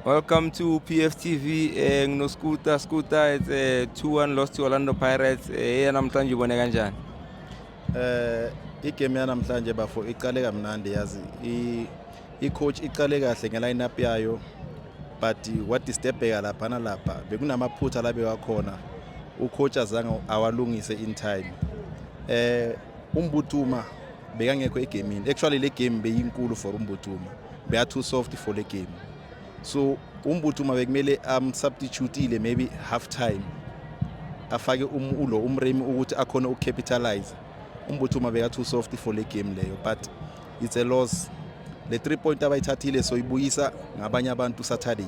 Welcome to PFTV eh ngino Scooter Scooter it's a 2-1 loss to Orlando Pirates eh namhlanje ubone kanjani eh igame yanamhlanje bafo iqale kamnandi yazi i i coach iqale kahle nge line up yayo but what disturbeka lapha nalapha bekunamaphutha labe wakhona u coach azange awalungise in time eh umbutuma bekangekho egemini actually le game beyinkulu for umbutuma beya too soft for le game so umbutuma bekumele amsubstitutile um, maybe half time afake um, ulo umremi ukuthi akhona ukucapitalize umbutuma beka too soft for le game leyo but it's a loss le three point abayithathile soyibuyisa ngabanye abantu saturday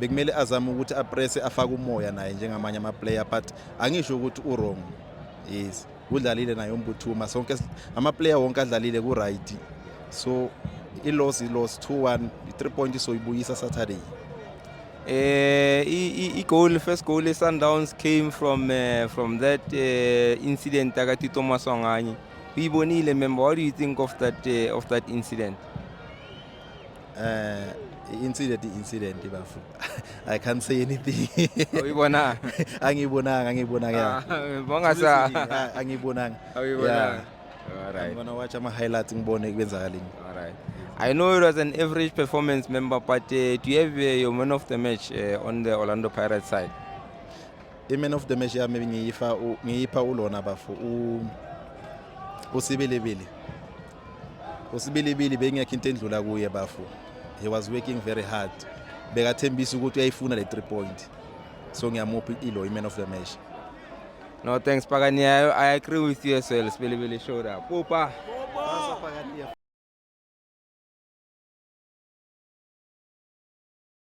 bekumele azame ukuthi aprese afake umoya naye njengamanye amaplayer but angisho ukuthi uwrong yes udlalile naye umbuthuma sonke amaplayer wonke adlalile ku-right so i-loss i-loss 2-1 i-three point soyibuyisa saturday Uh, i-goal first goal i-sundowns came from uh, from that uh, incident akatito maswanganye uyibonile member what do you think of that, uh, of that incident Eh incident incident bafu. I can't say anything. Awuyibonanga. Angiyibonanga, angiyibonanga. Ah, bonga sa. Angiyibonanga. Awuyibonanga. All right. I'm gonna watch ama highlights ngibone kwenzakalini. All right. I know it was an average performance member but uh, do you have uh, your man of the match uh, on the Orlando Pirates side? i-man of the match yami ngiyifa ngiyipha ulona bafo usibelebele usibilibili beyingekho into endlula kuye bafu he was working very hard bekathembisa ukuthi uyayifuna le three point so ngiyamupha ilo i-man of the match no thanks pakaniyayo i agree with you as well sibilibili showed up pupa